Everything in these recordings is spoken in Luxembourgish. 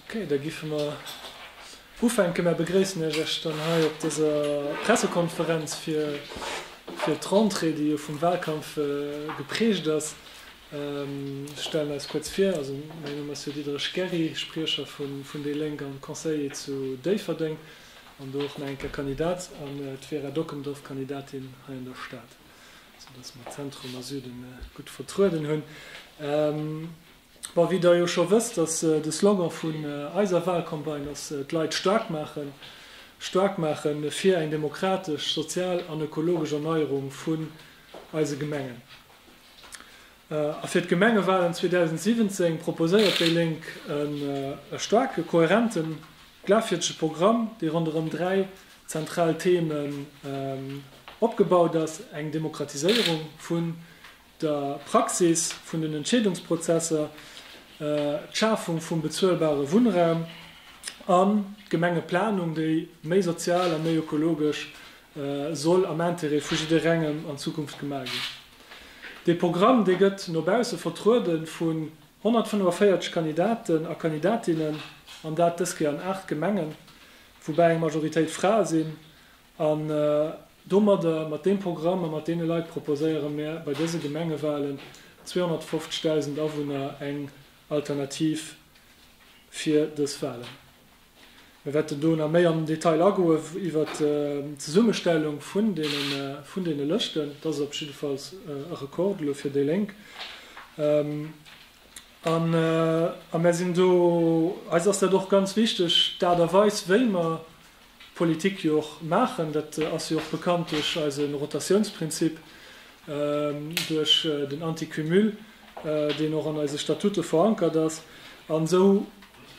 Okay, da giffe mer ufänken. Mer begréissen Iech Iech dann hei op dëser Pressekonferenz fir fir d'Rentrée, déi jo vum Wahlkampf geprägt ass. Ech stellen eis kuerz vir, also mäin Numm ass jo Diderich Gerry, Spriecher vu vun déi Lénk an Conseiller zu Déifferdeng an do och nach eng Kéier Kandidat, an d'Vera Dockendorf, Kandidatin hei an der Stad, sou dass mer Zentrum a Süden gutt vertrueden hunn. Bon, wéi der jo scho wësst, ass de Slogan vun eiser Wahlcampagne ass d'Leit staark maachen. Staark maache fir eng demokratesch, sozial an ökologesch Erneierung vun eise Gemengen. A fir d'Gemengewahlen 2017 proposéiert déi Lénk e staarke, kohärenten, glafwierdege Programm, dee ronderëm dräi zentral Themen opgebaut ass, eng Demokratiséierung vun der Praxis vun den Entscheedungsprozesser, d'Schafung vum bezuelbare Wunnraum an d'Gemengeplanung, déi méi sozial a méi ökologesch soll am Intérêt vu jidderengem an Zukunft gemaach ginn. Dee Programm, dee gëtt no bausse vertruede vun 145 Kandidaten a Kandidatinnen, an dat dës Kéier an 8 Gemengen, woubäi eng Majoritéit Frae sinn, An domadder, mat deem Programm a mat deene Leit, proposéiere mir bei dëse Gemengewalen 250.000 Awunner eng Alternativ fir dës Walen. Mir wäerten do nach méi am Detail agoe iwwert d'Zesummestellung vun deene Lëschten. Dat ass op jiddefalls e Rekord elo fir déi Lénk. A mir sinn do, eis ass dat och ganz wichteg, d'Aart a Weis, wéi mer, Politik jo och maachen. Dat ass jo och bekannt duerch eise Rotatiounsprinzip, duerch den Anticumul, deen och an eise Statute verankert ass. An esou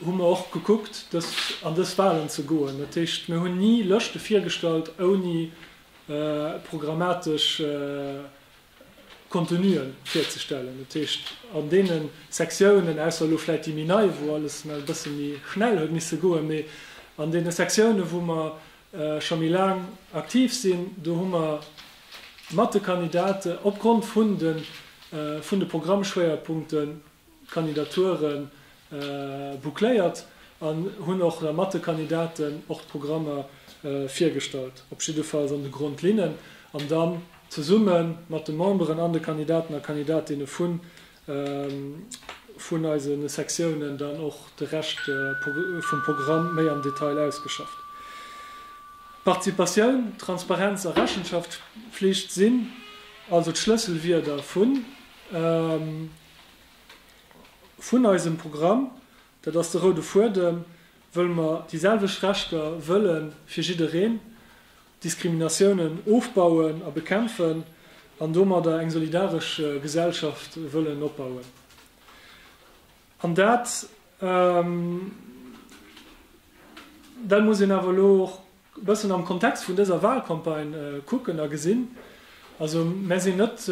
hu mer och gekuckt, dës an dës Wahlen ze goen. Dat heescht, mir hunn ni Lëschte virgestallt ouni programmatesch Contenuen virzestellen. Dat heescht, an deene Sektiounen, ausser elo vläicht déi méi nei, wou alles emol e bësse méi schnell huet misse goen, mee an deene Sektiounen, wou mer scho méi laang aktiv sinn, do hu mer mat de Kandidate opgrond vun de Programmschwéierpunkte Kandidature boucléiert an hunn och da mat de Kandidaten och d'Programmer virgestallt, op jiddefalls an de Grondlinnen, an dann zesumme mat de Memberen an de Kandidaten a Kandidatinne vun eise Sektiounen dann och de Rescht vum Programm méi am Detail ausgeschafft. Participatioun, Transparenz a Rechenschaftspflicht sinn also d'Schlësselwierder vun. Vun eisem Programm, dat ass de roude Fuedem, wëll mer déi selwecht Rechter wëlle fir jiddereen, Diskriminatiounen ofbauen a bekämpfen an domadder eng solidaresch Gesellschaft wëllen opbauen. An dat, dat muss een awer elo och e bëssen am Kontext vun dëser Wahlcampagne kucken a gesinn, also mär sinn net,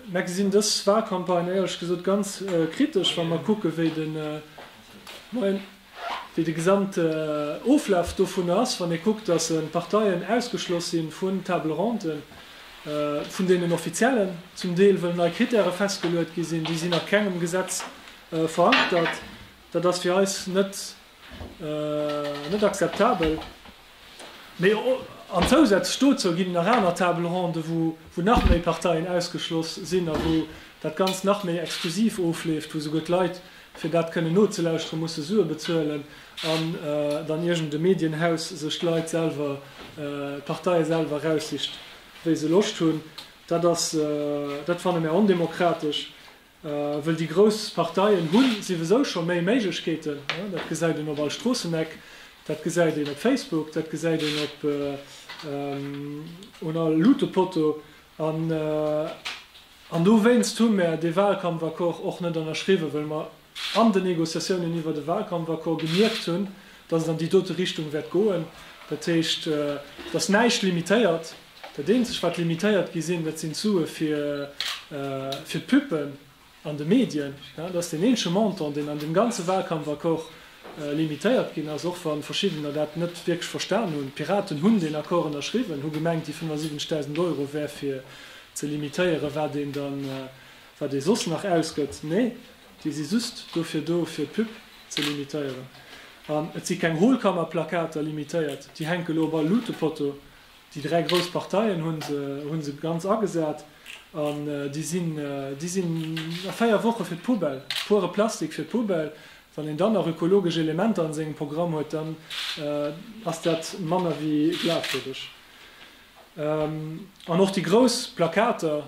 mär gesinn dës Wahlcampagne éierlech gesot ganz kritesch, wa mer kucke wéi de, moien, wéi de gesamt Oflaf dovun ass, wann ee kuckt, datt Parteien ausgeschloss si vun Table ronde vun deenen Offiziellen, zum Deel wëll nei Kritäre festgeluet gi sinn, déi sinn a kengem Gesetz verankert, dat ass fir eis net net akzeptabel. Mee an zousätzlech dozou ginn nach aner Table ronde, wou wou nach méi Parteien ausgeschloss sinn a wou dat Ganzt nach méi exklusiv ofleeft, wou souguer d'Leit, fir dat kënnen nozelauschteren, musse Sue bezuelen an dann iergend e Medienhaus sech d'Leit selwer, d'Parteie selwer eraussicht, wéi se Loscht hunn. Dat ass, dat fanne mär ondemokratesch. Wëll déi grouss Parteien hu siwesou scho méi Méiglechkeeten. Dat gesäit een op all Stroosseneck, dat gesäit een op Facebook, dat gesäit een op un all Luutepotto. An dowéinst hu mär dee Wahlkampfaccord och net ënnerschriwwen, wëll mer an den Negociatiounen iwwert e Wahlkampfaccord gemierkt hunn, dass et an déi dote Richtung wäert goen, dat heescht, dass näischt limitéiert, dat eenzeg wat limitéiert gi sinn, dat sinn d'Sue fir d'Puppen an de Medien. Dat ass deen eenzege Montant, deen an deem ganze Wahlkampfaccord limitéiert ginn ass, och wa verschiddener dat net wierklech verstan hunn. D'Piraten hunn deen Accord ënnerschriwwen, hu gemengt déi 75.000 Euro wär fir ze limitéieren, wat een soss nach ausgëtt. Nee, Déi si just dofir do fir d'Pub ze limitéieren. An et si keng Hohlkammerplakater limitéiert, déi hänke lo op all Luutepotto. Déi dräi grouss Parteien hu se ganz agesat an déi sinn a véier Woche fir d'Poubelle. Puere Plastik fir d'Poubelle. Wann een dann nach ökologesch Elementer an sengem Programm huet, dann ass dat manner wéi glafwierdeg. An och déi grouss Plakater,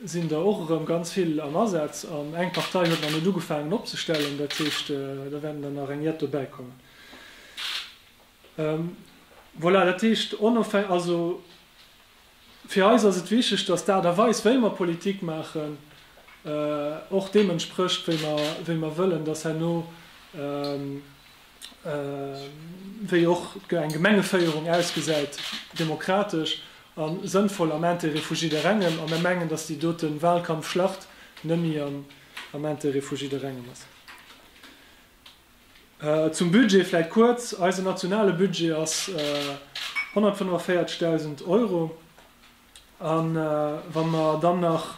sinn der och erëm ganz vill am Asaz an eng Partei huet nach net ugefaangen opzestellen. Dat heescht, da wäerten der nach eng jett dobäi kommen. Voilà, dat heescht, onofhäng-, also fir eis ass et wichtig, dass d'Aart a Weis, wéi mer Politik maachen, och deem entsprécht, wéi mer, wéi mer wëllen, dass herno, wéi och eng Gemengeféierung ausgesäit, demokratesch a sënnvoll am Intérêt vu jidderengem. A mir mengen, dass déi dote Wahlkampfschlacht nëmme am Intérêt vu jidderengem ass. Zum Budget vläicht kuerz, Eisen nationale Budget ass 145.000 Euro. A wa mer dann nach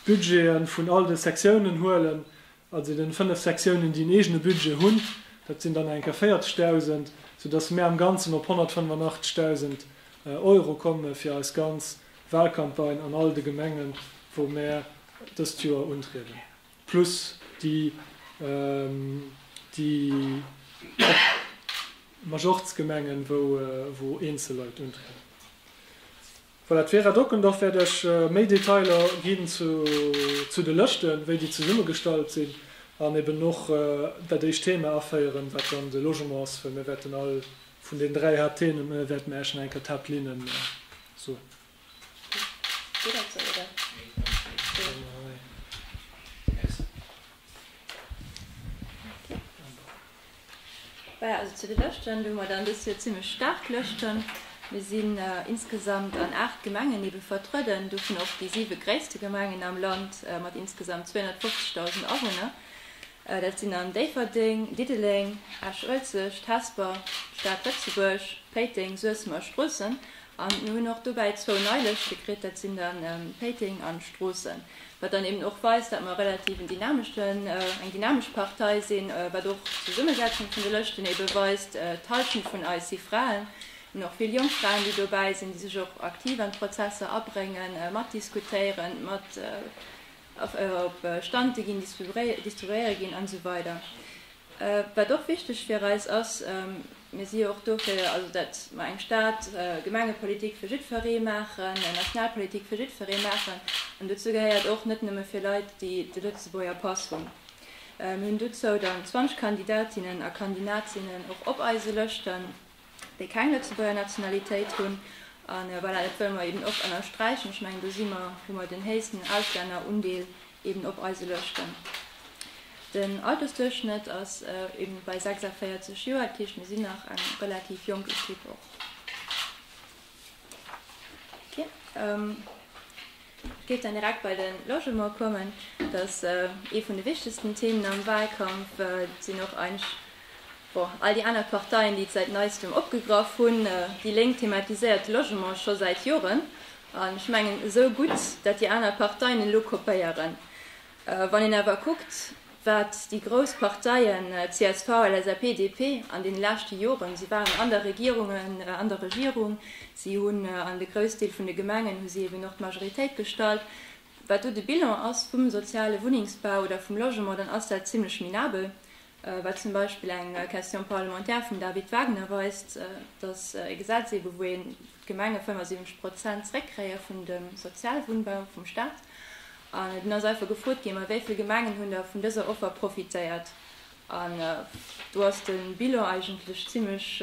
d'Budgete vun all de Sektiounen huelen, Also den 5 Sektiounen déi en eegene Budget hunn, dat sinn dann enker 40.000, sou dass mär am ganzen op 185.000 Euro komme fir eis ganz Wahlcampagne an all de Gemengen wou mär dëst Joer untrieden, plus déi déi Majortsgemengen wou eenzel Leit untrieden. Voilà, d'Vera Dockendorf wäert iech méi Detailer ginn zu de Lëschten, wéi déi zesummegestallt sinn, an eben och dat éischt Thema aféieren, wat dann de Logement ass, well mir wäerten all vun den dräi Haapttheme wäerte mir iech nach eng Kéier d'Haaptlinnen soen. Gutt dat sou, oder? Merci. Voilà, also zu de Lëschten, do hu mer dann dëst Joer zimlech staark Lëschten. Mir sinn insgesamt an aacht Gemengen ebe vertrueden, dovun och déi siwe gréisste Gemengen am Land mat insgesamt 250.000 Awunner. Dat sinn an Déifferdeng, Diddeleng, Esch-Uelzecht, Hesper, d'Stad Lëtzebuerg, Péiteng, Suessem a Stroossen. An mir hunn och dobäi zwou nei Lëschte kritt, dat sinn dann Péiteng an Stroossen, wat dann eben och weist, dat mer relativ en dynameschten, eng dynamesch Partei sinn, wat och d'Zesummesetzung vun de Lëschten eben weist. D'Hallschent vun eis si Fraen, mir hunn och vill jonk Fraen, déi dobäi sinn, déi sech och aktiv an d'Prozesser abréngen, mat diskutéieren, mat op Stante ginn, distribuéiere ginn an esou weider. Wat och wichteg fir eis ass. Mir si jo och dofir, also datt mer eng Stad-, Gemengepolitik fir jiddweree maachen, eng national Politik fir jiddweree maachen. An dozou gehéiert och, net nëmme fir Leit, déi de Lëtzebuerger Pass hunn. Mir hunn dozou dann 20 Kandidatinnen a Kandinatinnen och op eise Lëschten, déi keng Lëtzebuerger Nationalitéit hunn. A voilà, dat wëlle mer eeben och ënnersträichen. Ech mengen, do si mer, hu mer den héichsten Auslännerundeel, eben op eise Lëschten. Den Altersduerchschnëtt ass eben bei 46 Joer, dat heescht mir sinn nach eng relativ jonk Equipe och. Ech géif dann direkt bei de Logement kommen, dat ass ee vun de wichtegsten Themen am Wahlkampf. Et sinn och eigentlech all déi aner Parteien, déi et säit neistem opgegraff hunn. Déi Lénk thematiséiert de Logement scho säit Joren, An ech mengen, esou gutt dat déi aner Parteien elo kopéieren, wann een awer kuckt, wat déi grouss Parteien csv, LSAP, DP an deene leschte Joren, si waren an der Regierung, an der Regierung, si hunn an de Groussdeel vun de Gemengen hu si eben och d'Majoritéit gestallt, wat do de Bilan ass vum soziale Wunnengsbau oder vum Logement, dann ass dat zimlech minabel. wat zum Beispill eng Question parlementaire vum David Wagner weist, dass e Gesetz eebe wou een d'Gemenge 75 Prozent zréckkréie vun dem Sozialwunnbau vum Staat, an et ass einfach gefrot ginn, mä wéivill Gemengen hunn da vun dëser Offer profitéiert? An do ass de Bilan eigentlech zimlech,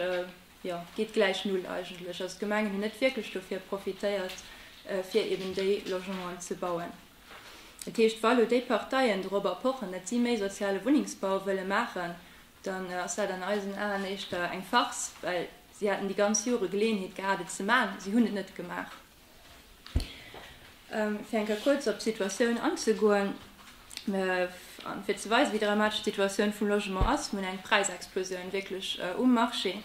jo, geet gläich Null eigentlech. Also d'Gemengen hunn net wierklech dofir profitéiert, fir eeben déi Logementen ze bauen. Dat heescht, wa elo déi Parteien dorobber pochen, datt si méi soziale Wunnengsbau wëlle maachen, dann ass dat an eisen Aen éischter eng Farce, well si haten déi ganz Jore Geleeënheet gehat, et ze maachen, si hunn et net gemaach. Fir eng Kéier kuerz op d'Situatioun anzegoen. An fir ze weisen, wéi dramatesch d'Situatioun vum Logement ass, vun eng Präisexplosioun wierklech um Marché.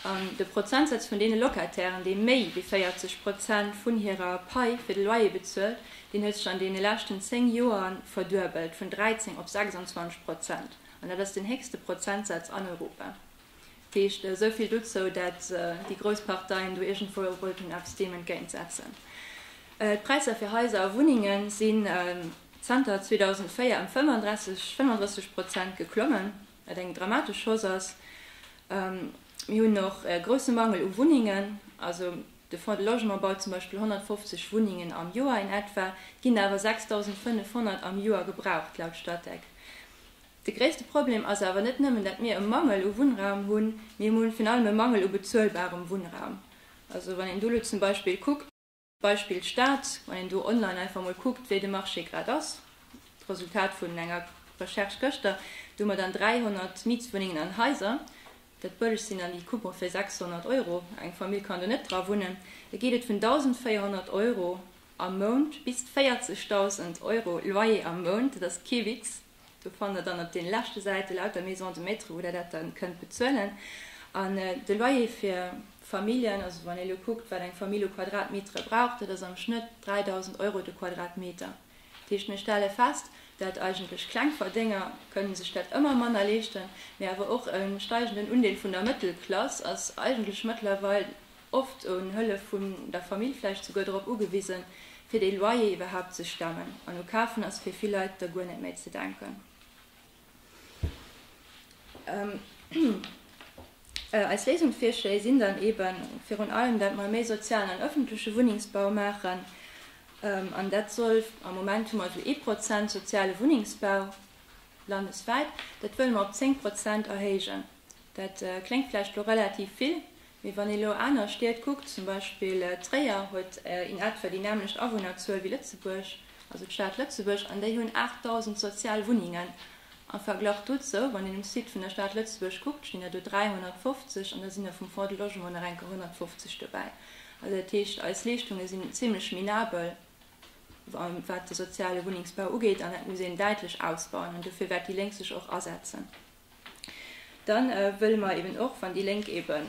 An de Prozentsaz vun deene Locatairen, déi méi wéi 40 Prozent vun hirer Pai fir de Loyer bezuelt, deen huet sech an deene leschten 10 Joer verduebelt, vun 13 op 26 Prozent. An dat ass den héchste Prozentsaz an Europa. Heescht, esou vill dozou, dat déi grouss Parteien do iergendwou wollten eppes deem entgéint setzen. D'Präisser fir Haiser a Wunnenge sinn zanter 2004 ëm 35 Prozent geklommen, wat eng dramatesch Chance ass. Mir hunn och e grousse Mangel u Wunnengen, also de Fonds de Logement baut zum Beispill 150 Wunnengen am Joer in etwa, et ginn awer 6.500 am Joer gebraucht laut Statec. De gréisste Problem ass awer net nëmmen, datt mir e Mangel u Wunnraum hunn, mee mir hunn virun allem e Mangel u bezuelbarem Wunnraum. Also wann een do elo zum Beispill kuckt, Beispill Stad, wann een do online einfach emol kuckt, wéi de Marché grad ass, d'Resultat vun enger Recherche gëschter, do hu mer dann 300 Mietswunnengen an Haiser, dat bëllegst sinn dann déi Coupon fir 600 Euro, eng Famill kann do net dra wunnen, da geet et vun 1.400 Euro am Mount bis 40.000 Euro Loyer am Mount, dat ass kee Witz. Do fannt der dann op den leschte Säite lauter Maisons de Maître wou der dat dann kënnt bezuelen. An de Loyer fir Familjen, also wann een elo kuckt wat eng Famill u Quadratmetere brauch, dat ass am Schnëtt 3.000 Euro de Quadratmeter. Dat heescht mir stelle fest, dat eigentlech kleng Verdénger kënnen sech dat ëmmer manner leeschten, mee awer och e steigenden Undeel vun der Mëttelklass ass eigentlech mëttlerweil, oft un Hëllef vun der Famill, vläicht souguer drop ugewisen, fir de Loyer iwwerhaapt ze stemmen, an u Kafen ass fir vill Leit da guer net méi ze denken. Eis Léisungsvirschléi sinn dann eben virun allem, dat mer méi sozialen an öffentleche Wunnengsbau maachen, an dat soll, am Moment hu mer esou ee Prozent soziale Wunnengsbau landeswäit, dat wëlle mer op zéng Prozent erhéijen. Dat kléngt vläicht elo relativ vill, Mee wann ee lo aner Stied kuckt, zum Beispill Tréier huet in etwa déi nämlecht Awunnerzuel wéi Lëtzebuerg, also d'Stad Lëtzebuerg, an déi hunn 8.000 sozial Wunnengen. Am Verglach dozou, wann een um Site vun der Stad Lëtzebuerg kuckt, stinn der do 350, an da sinn der vum Fonds de Logement nach enker 150 dobäi. Also dat heescht, eis Leeschtunge sinn zimlech minabel, wat de soziale Wunnengsbau ugeet, an dat muss een däitlech ausbauen, an dofir wäert déi Lénk sech och asetzen. Dann wëlle mer eben och, wann déi Lénk eben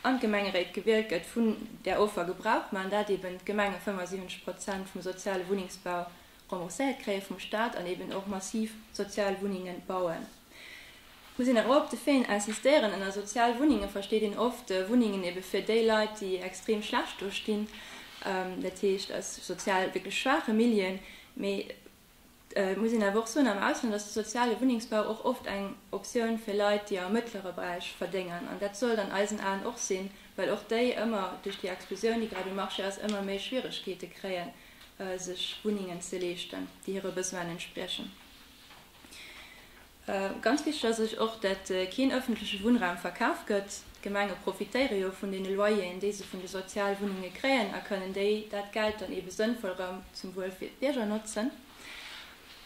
an d'Gemengeréit gewielt gëtt, vun där Offer Gebrauch maachen, dat eben d'Gemenge 75 Prozent vum soziale Wunnengsbau rembourséiert kréie vum Staat an eben och massiv sozial Wunnenge bauen. Ech muss een awer op de Fait insistéieren, Ënner sozial Wunnenge versteet een oft Wunnengen ebe fir déi Leit, déi extrem schlecht do stinn, dat heescht aus sozial wierklech schwaache Milieuen. Mee Et muss een awer och soen am Ausland ass de soziale Wunnengsbau och oft eng Optioun fir Leit, déi am mëttlere Beräich verdéngen. An dat sollt an eisen Aen och sinn, well och déi ëmmer duerch déi Explosioun, déi grad um Marché ass, ëmmer méi Schwieregkeete kréien, sech Wunnengen ze leeschten, déi hire Besoinen entspriechen. Ganz wichteg ass sech och, dat keen ëffentleche Wunnraum verkaf gëtt. D'Gemenge profitéiere jo vun deene Loyeren, déi se vun de Sozialwunnunge kréien a kënnen déi dat Geld dann eebe sënnvoll erëm zum Wuel fir d'Bierger notzen.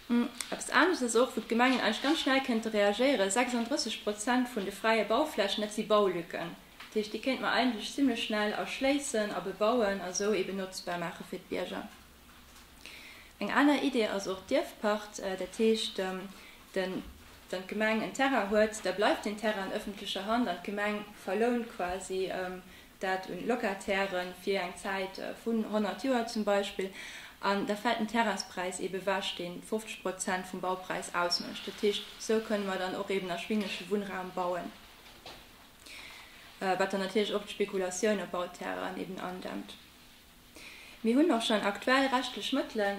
Eppes anescht ass och, wou d'Gemengen eigentlech ganz schnell kënnte reagéieren, 36 Prozent vun de fräie Bauflächen, dat si Baulücken. Dat heescht, déi kéinte mer eigentlech zimlech schnell erschléissen a bebauen a sou eebe notzbar maache fir d'Bierger. Eng aner Idee ass och d'Ierfpacht. Dat heescht, den, wann d'Gemeng en Terrain huet, da bleift deen Terrain an ëffentlecher Hand an d'Gemeng verlount quasi dat un Locataire fir eng Zäit vun 100 Joer zum Beispill. An da fält den Terrainspräis eebe wech, dee 50 Prozent vum Baupräis ausmécht. Dat heescht, esou kënne mer dann och eeben erschwinglesche Wunnraum bauen, wat dann natierlech och d'Spekulatioun op Bauterrainen eeben andämmt. Mir hunn och schonn aktuell rechtlech Mëttelen,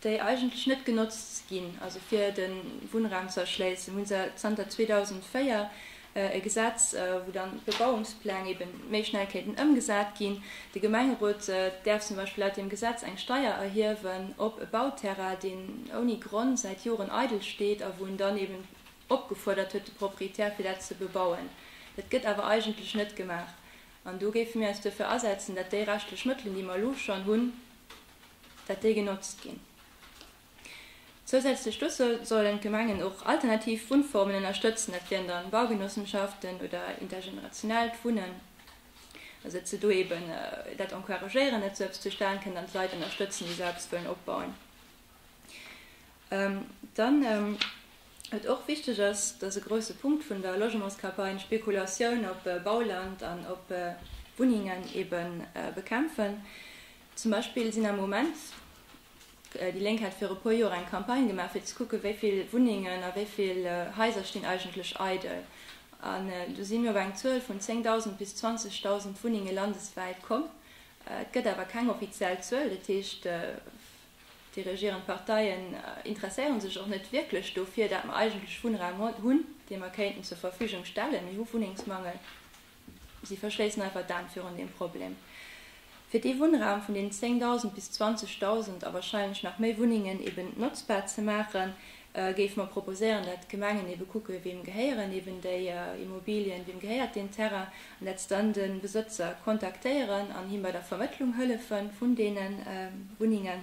déi eigentlech net genotzt ginn, also fir de Wunnraum ze erschléissen, hu se zanter 2004 e Gesetz, wou dann d'Bebauungspläng ebe méi schnell kéinten ëmgesat ginn. De Gemengerot däerf zum Beispill laut deem Gesetz eng Steier erhiewen op e Bauterrain, deen ouni Grond säit Joren eidel steet a wou en dann eben opgefuerdert huet de Proprietär, fir dat ze bebauen. Dat gëtt awer eigentlech net gemaach. An do géife mir eis duerfir asetzen, datt déi rechtlech Mëttelen, déi mer elo schonn hunn, datt déi genotzt ginn. Zousätzlech dozou sollen d'Gemengen och alternativ Wunnformen ënnerstëtzen, dat wieren da Baugenossenschaften oder intergenerationellt Wunnen, also datt se do eeben dat encouragéieren, datt esou eppes zustan kënnt an d'Leit ënnerstëtzen, déi esou eppes wëllen opbauen. Dann wat och wichteg ass, dat ass e grouse Punkt vun der Logementscampagne, Spekulatioun op Bauland an op Wunnengen ebe bekämpfen. Zum Beispill sinn am Moment, déi Lénk hat viru puer Joer eng Campagne gemaach fir ze kucke wéi vill Wunnengen a wéi vill Haiser stinn eigentlech eidel. An do sinn mir op eng Zuel vun 10.000 bis 20.000 Wunnenge landeswäit komm. Et gëtt awer keng offiziell Zuel, dat heescht Déi regierend Parteien interesséieren sech och net wierklech dofir, dat mer eigentlech Wunnraum hunn, dee mer kéinten zur Verfügung stellen. Mir hu Wunnengsmangel. Si verschléissen einfach d'Aen virun deem Problem. Fir dee Wunnraum vun deenen 10.000 bis 20.000 a wahrscheinlech nach méi Wunnengen eben notzbar ze maachen, géife mer proposéieren, dat d'Gemengen ebe kucke weem gehéieren eben déi Immobilien, weem gehéiert deen Terrain, an dat se dann de Besëtzer kontaktéieren an him bei der Vermëttlung hëllefe vun deene Wunnengen.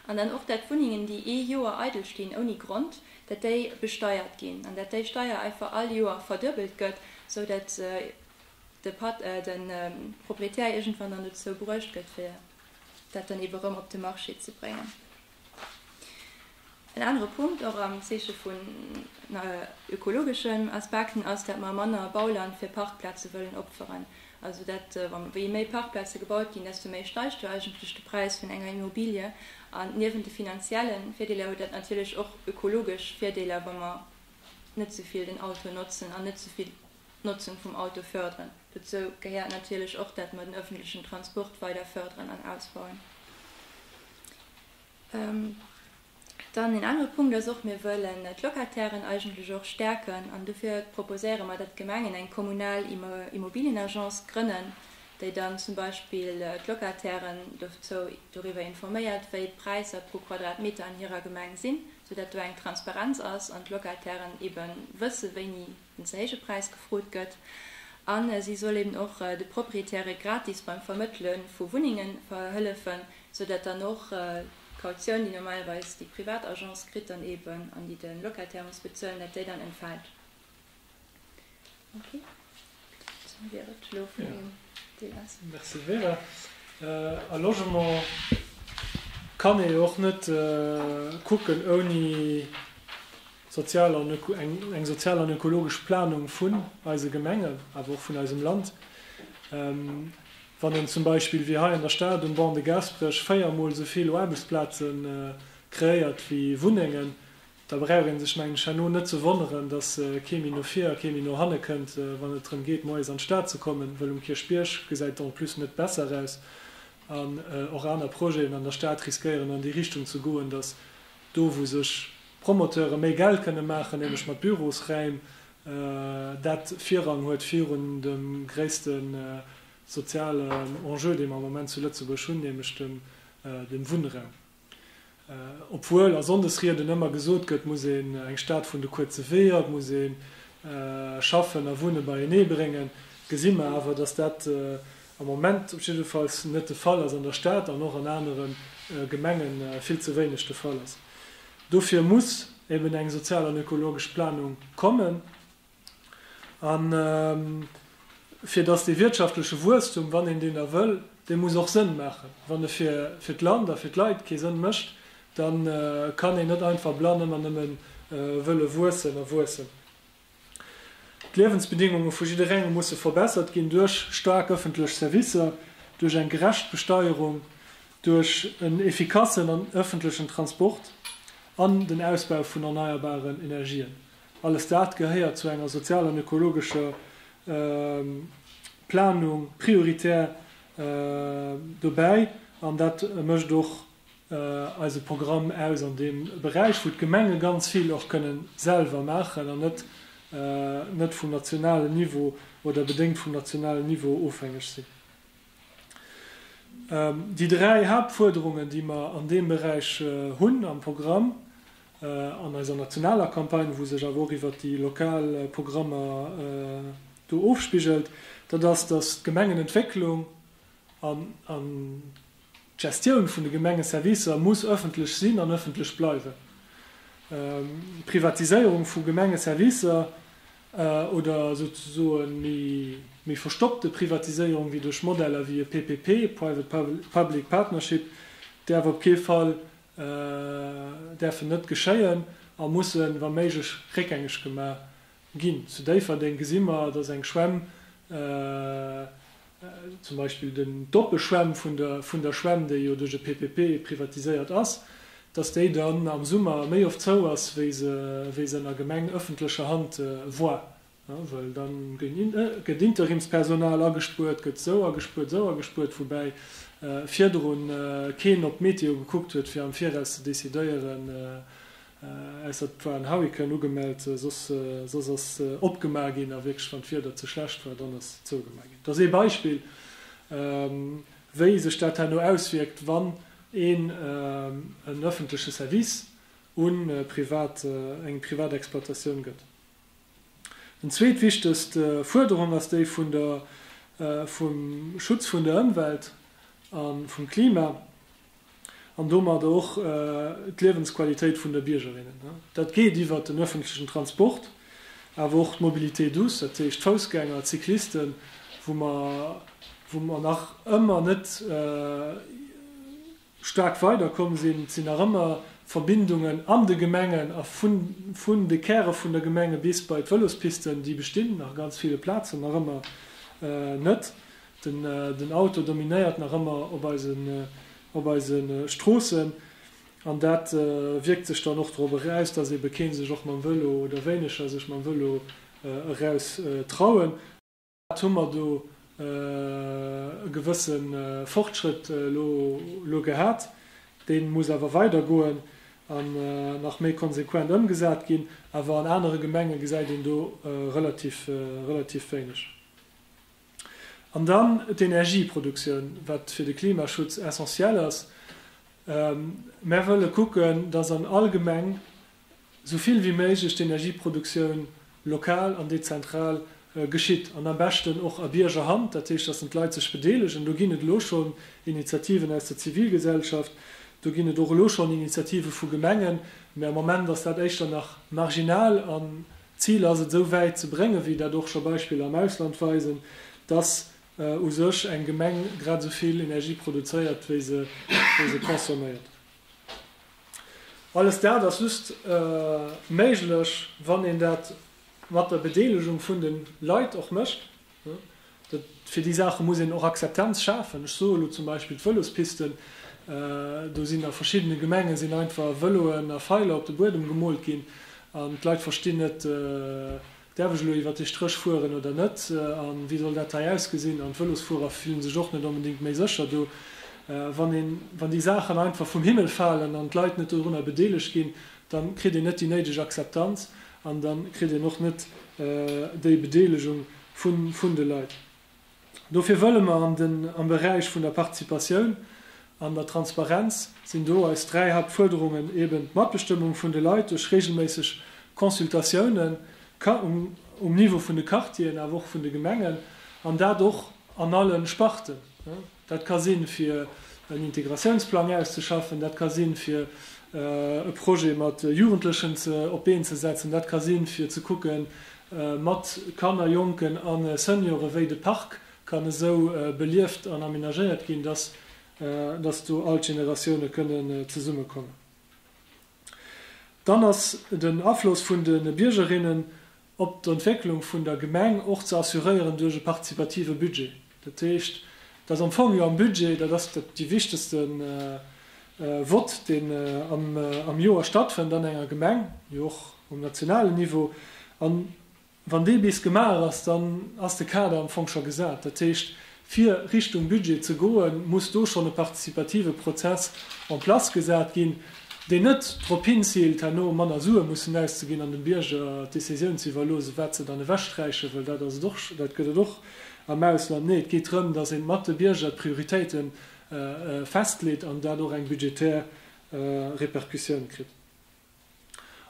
An dann och, dat d'Wunnengen, déi ee Joer eidel stinn ouni Grond, dat déi besteiert ginn an dat déi Steier einfach all Joer verduebelt gëtt, sou dat de Proprietär iergendwann dann dozou bruecht gëtt, fir dat dann ebe rëm op de Marché ze bréngen. En anere Punkt, och am Zeeche vun ökologeschen Aspekten, ass, datt mer manner Bauland fir Parkplaze wëllen opferen. Also dat, wéi méi Parkplaze gebaut ginn, desto méi steigt jo eigentlech de Präis vun enger Immobilie. An niewent de finanzielle Virdeeler huet dat natierlech och ökologesch Virdeeler, wa mer net esou vill den Auto notzen an net esou vill d'Notzung vum Auto förderen. Dozou gehéiert natierlech och, dat mer den öffentlechen Transport weider förderen an ausbauen. Dann een anere Punkt ass och, mir wëllen d'Locatairen eigentlech och stärken an dofir proposéiere mer, dat d'Gemengen eng kommunal Immobilienagence grënnen, déi dann zum Beispill d'Locatairen dozou, doriwwer informéiert, wéi d'Präisser pro Quadratmeter an hirer Gemeng sinn, sou dat do eng Transparenz ass an d'Locatairen eebe wësse, wéini. den Zäigepräis gefrot gëtt a si soll eben och de Proprietäre gratis beim Vermëttele vu Wunnénge hëllefen, sou datt dann och d'Kautioun, déi normalerweis déi privat Agence kritt dann eben an déi de Locataire muss bezuelen, datt déi dann entfält. Merci. Dat wier et elo vun deem Deel aus. Merci Vera. A Logement kann ee jo och net kucken ouni. Sozial an öko eng sozial an ökologesch Planung vun eise Gemengen, awer och vun eisem Land. Wann een zum Beispill wéi hei an der Stad um Banc de Gaasperech véier Mol esou vill Aarbechtsplaze kreéiert wéi Wunnengen, da brauch ee sech, mengen ech, herno net ze wonneren, dass kee méi no vir a kee méi no hanne kënnt, wann et drëm geet, moies an d'Stad ze kommen. Wëll um Kierchbierg gesäit et en plus net besser aus an och aner Projeten an der Stad riskéieren an déi Richtung ze goen, dass do, wou sech. Promoteure méi Geld kënne maachen, nämlech mat Bürosräim, dat Virrang huet virun dem gréisste sozialen Enjeu, dee mer am Moment zu Lëtzebuerg hunn, nämlech dem Wunnraum. Obwuel a Sonndesrieden ëmmer gesot gëtt, et muss een eng Stad vun de kuerze Weeër, et muss ee Schaffen a Wunne beienee bréngen, gesi mer awer, dass dat am Moment jiddefalls net de Fall ass an der Stad an och an anere Gemenge vill ze wéineg de Fall ass. Dofir muss eben eng sozial an ökologesch Planung kommen, a fir datt dee wirtschaftleche Wuesstum, wann een deen da wëll, dee muss och Sënn maachen. Wann e fir d'Land a fir d'Leit kee Sënn mécht, da kann een net einfach blann ëmmer nëmme wëlle wuessen a wuessen. D'Liewensbedingunge vu jidderengem musse verbessert ginn, duerch staark ëffentlech Servicer, duerch eng gerecht Besteierung, duerch en effikassen an ëffentlechen Transport an den Ausbau vun erneierbaren Energien. Alles dat gehéiert zu enger sozial an ökologescher Planung prioritär dobäi an dat mécht och eise Programm aus an deem Beräich, wou d'Gemenge ganz vill och kënne selwer maachen an net net vum nationalen Niveau oder bedéngt vum nationalen Niveau ofhängeg sinn. Déi dräi Haaptfuerderungen, déi mer an deem Beräich hunn am Programm, an eiser nationaler Campagne, wou sech awer och iwwert déi lokal Programmer do ofspigelt, dat ass, dass d'Gemengenentwécklung an D'Gestioun vun de Gemengeservicer muss ëffentlech sinn an ëffentlech bleiwen. Privatiséierung vu Gemengeservicer oder souzesoe méi verstoppte Privatiséierung wéi duerch Modeller wéi e PPP, Private Public Partnership, däerf op kee Fall däerfen net geschéien a mussen, wa méiglech, réckgängeg gemaach Ginn. Zu Déifferdeng gesi mer, dass eng Schwämm, zum Beispill den d'Doppeschwämm vun der Schwämm, déi jo duerch e PPP privatiséiert ass, dass déi dann am Summer méi oft zou ass, wéi se an der Gemeng ëffentlecher Hand war. Well da gëtt Interimspersonal agespuert, gëtt esou agespuert, esou agespuert, woubäi virdrun keen op d'Meteo gekuckt huet, fir am Viraus ze decidéieren, Ausser et war en Hurrikan ugemellt, soss soss ass opgemaach ginn a wierklech wann d'Wieder ze schlecht war, dann ass zougemaach ginn. Et ass ee Beispill wéi sech dat herno auswierkt wann een en ëffentleche Service un privat eng privat Exploitatioun gëtt. Eng zweet wichtegst Fuerderung ass déi vun der vum Schutz vun der Ëmwelt a vum Klima. an domat och d'Liewensqualitéit vun de Biergerinnen. Dat geet iwwert den öffentlechen Transport, awer och d'Mobilité douce, dat heescht d'Foussgänger, d'Cyclisten, wou mer, wou mer nach ëmmer net staark weiderkomm sinn. Et sinn nach ëmmer Verbindungen an de Gemengen a vun, vun de Käre vun der Gemenge bis bei d'Vëlospisten, déi bestinn a ganz ville Plazen nach ëmmer net. Den Auto dominéiert nach ëmmer op eise Stroossen an dat wierkt sech dann och dorobber aus, dass eebe kee sech och mam Vëlo oder wéineger sech mam Vëlo eraus trauen. Wat hu mer do e gewësse Fortschrëtt elo gehat, dee muss awer weider goen an nach méi konsequent ëmgesat ginn, awer an anere Gemenge gesäit een do relativ wéineg. An dann d'Energieproduktioun, wat fir de Klimaschutz essentiell ass. Mär wëlle kucken, dass an all Gemeng esou vill wéi méiglech d'Energieproduktioun lokal an dezentral geschitt an am beschten och a Biergerhand, dat heescht, dass d'Leit sech bedeelegen. Do ginn et elo schonn Initiativen aus der Zivilgesellschaft, do ginn et och elo schonn Initiative vu Gemengen, mä am Moment ass dat éischter nach marginal a D'Zil ass et esou wäit ze bréngen, wéi dat och scho Beispiller am Ausland weisen, dass u sech eng Gemeng grad esou vill Energie produzéiert, wéi se consomméiert. Alles dat ass just méiglech, wann een dat mat der Bedeelegung vun de Leit och mécht. Fir déi Saache muss een och Akzeptanz schafen. Ech soe elo zum Beispill d'Vëlospisten. Do sinn a verschiddene Gemenge sinn einfach Vëloen a Feiler op de Buedem gemoolt ginn an d'Leit verstinn net, Däerf ech elo iwwer dee Stréch fueren oder net? A wéi soll dat hei ausgesinn? An d'Vëlosfuerer fillen sech och net onbedéngt méi sécher do. Wann déi Saachen einfach vum Himmel falen an d'Leit net dorunner bedeelegt ginn, dann kritt een net déi néideg Akzeptanz an dann kritt een och net déi Bedeelegung vun de Leit. Dofir wëlle mer am Beräich vun der Participatioun an der Transparenz, sinn do eis dräi Hauptfuerderungen, eben d'Matbestëmmung vun de Leit duerch reegelméisseg Consultatiounen um Niveau vun de Quartieren, awer och vun de Gemengen, an dat och an alle Sparten. Dat ka sinn, fir en Integratiounsplang auszeschaffen, dat ka sinn, fir e Projet mat Jugendlechen op d'Been ze setzen, dat ka sinn, fir ze kucke mat Kanner, Jonken a Seniore wéi de Park kann esou belieft an amenagéiert ginn, datt do all d'Generatioune kënnen zesummekommen. Dann ass den Afloss vun de Biergerinnen. op d'Entwécklung vun der Gemeng och ze assuréieren duerch e partizipative Budget. Dat heescht, et ass am Fong jo am Budget, dat ass dee wichtegste Vott, deen am Joer stattfënnt an enger Gemeng, jo och um nationalen Niveau. An wann dee bis gemaach ass, dann ass de Kader am Fong scho gesat. Dat heescht. Fir Richtung Budget ze goen, muss do schonn e partizipative Prozess en place gesat ginn, deen net drop hinziilt, herno manner Sue mussen auszeginn an dem Bierger d'Decisioun ze iwwerloosen, wat se dann ewechsträiche wëll. Dat ass et och, dat gëtt et och am Ausland. Nee, et geet drëm, dass ee mat de Bierger d'Prioritéite festleet an dat och eng budgetär Répercussioun kritt.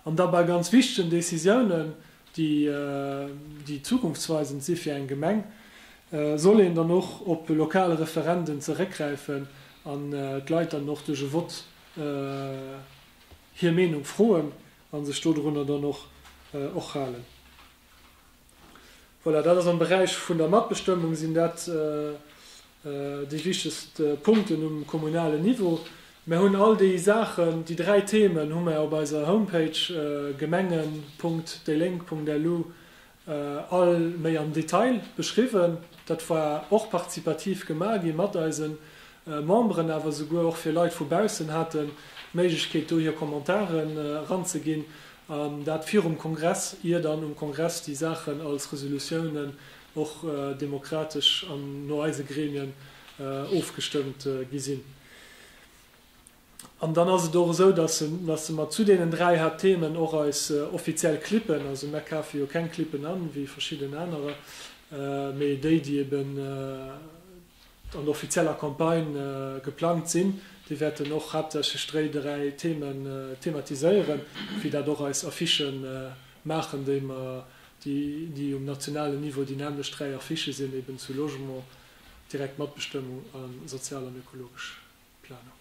An da bei ganz wichtegen Décisiounen, déi zukunftsweisend si fir eng Gemeng, soll een dann och op e lokale Referendum zeréckgräifen an d'Leit dann och duerch e Vott hir Meenung froen a sech dodrunner dann och halen. Voilà, dat ass am Beräich vun der Matbestëmmung, sinn dat déi wichtegst Punkten um kommunalen Niveau. Mer hunn all déi Saachen, déi dräi Themen hu mer op eiser Homepage gemengen.déilénk.lu all méi am Detail beschriwwen. Dat war och participativ gemaach gi mat eise Memberen, awer esouguer och fir Leit vu baussen hate Méiglechkeet, do hir Commentaren eranzeginn. An dat virum Kongress, ier dann um Kongress déi Saachen als Resolutiounen och demokratesch an no eise Gremien ofgestëmmt gi sinn. An dann ass et och esou, datt mer zu deenen dräi Haaptthemen och eis offiziell Clippen, also mer kafe jo keng Clippen an, wéi verschidden anerer, mee déi, déi eben an der offizieller Campagne geplangt sinn, déi wäerten och haaptsächlech dréi dräi Themen thematiséieren, wéi dat och eis Affiche maachen, déi mer, déi um nationalen Niveau, déi nämmlecht dräi Affiche sinn eben zu Logement, direkt Matbestëmmung a sozial an ökologesch Planung.